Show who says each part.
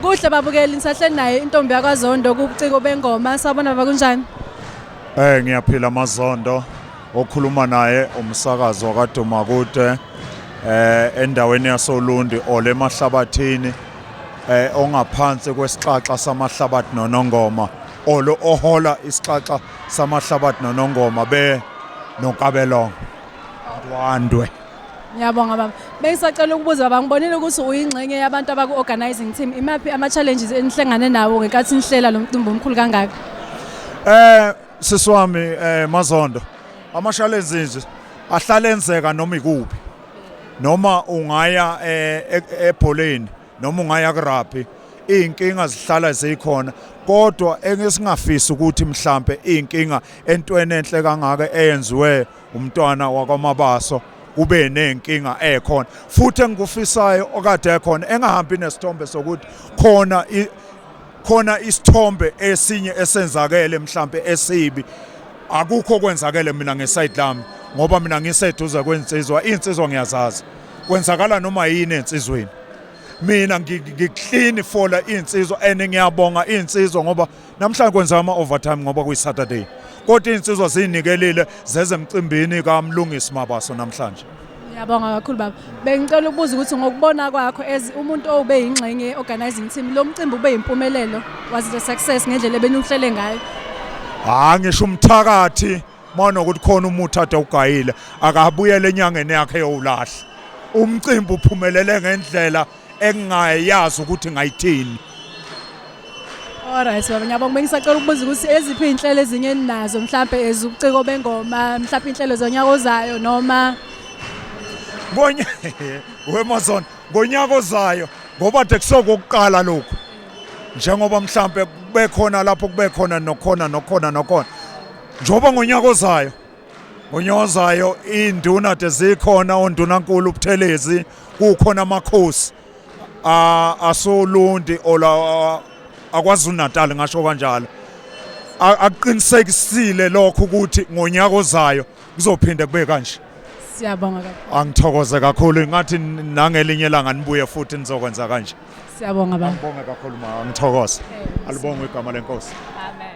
Speaker 1: Kuhle babukeli nisahleli naye intombi yakwaZondo kubuciko bengoma sabona baba kunjani? Eh
Speaker 2: ngiyaphila amaZondo okhuluma naye umsakazi wakaduma kude eh endaweni yasoLundi ole mahlabathini eh ongaphansi kwesixaxa samahlabathi nonongoma olo ohola isixaxa samahlabathi nonongoma be nonkabelongo awandwe Ngiyabonga
Speaker 1: baba. Bengisacela ukubuza baba ngibonile ukuthi uyingxenye yabantu abaku organizing team. Imaphi ama challenges enihlangane nawo ngenkathi nihlela lo mcimbi omkhulu kangaka? Eh sisi
Speaker 2: wami eh Mazondo ama challenges nje ahlale enzeka noma ikuphi. Noma ungaya eh, e- ebholeni noma ungaya kurugby izinkinga zihlala zikhona kodwa engesingafisi ukuthi mhlambe izinkinga entweni enhle kangaka eyenziwe umntwana wakwamabaso ube nenkinga ekhona futhi engikufisayo okade ekhona engahambi nesithombe sokuthi khona khona isithombe esinye esenzakele mhlambe esibi akukho kwenzakele mina ngeside lami ngoba mina ngiseduze kwensizwa insizwa ngiyazazi kwenzakala noma yini ensizweni mina ngikuhlini fola insizwa and ngiyabonga insizwa ngoba namhlanje kwenza ama-overtime ngoba kuyi-saturday kodwa iy'nsizwa ziyinikelile zeze emcimbini kamlungisi mabaso namhlanje Ngiyabonga kakhulu
Speaker 1: baba. Bengicela ukubuza ukuthi ngokubona kwakho as umuntu owube yingxenye ye-organizing team lo mcimbi ube yimpumelelo was it a success ngendlela ebenuhlele ngayo? Hayi ngisho
Speaker 2: umthakathi mona ukuthi khona umuthi ade ugayile akabuyele enyangeni yakhe yowulahla umcimbi uphumelele ngendlela engingayazi ukuthi ngayithini
Speaker 1: Alright baba ngiyabonga bengisacela ukubuza ukuthi eziphi inhlelo ezinye ninazo mhlambe ezubuciko bengoma mhlambe inhlelo zonyaka ozayo noma Ngonya
Speaker 2: weMazon ngonyaka ozayo ngoba de kusokokuqala lokho njengoba mhlambe kubekhona lapho kubekhona nokhona nokhona nokhona Njengoba ngonyaka ozayo ngonyaka ozayo induna de zikhona ondunankulu ubuthelezi kukhona amakhosi asolundi ola akwazulu natal ngasho kanjalo akuqinisekisile lokho ukuthi ngonyaka ozayo kuzophinde kube kanje siyabonga kakhulu
Speaker 1: angithokoze kakhulu
Speaker 2: ingathi nangelinye langa nibuye futhi nizokwenza kanje siyabonga baba
Speaker 1: ngibonge
Speaker 2: kakhulu ma ngithokoze alibonge
Speaker 1: igama
Speaker 2: lenkosi amen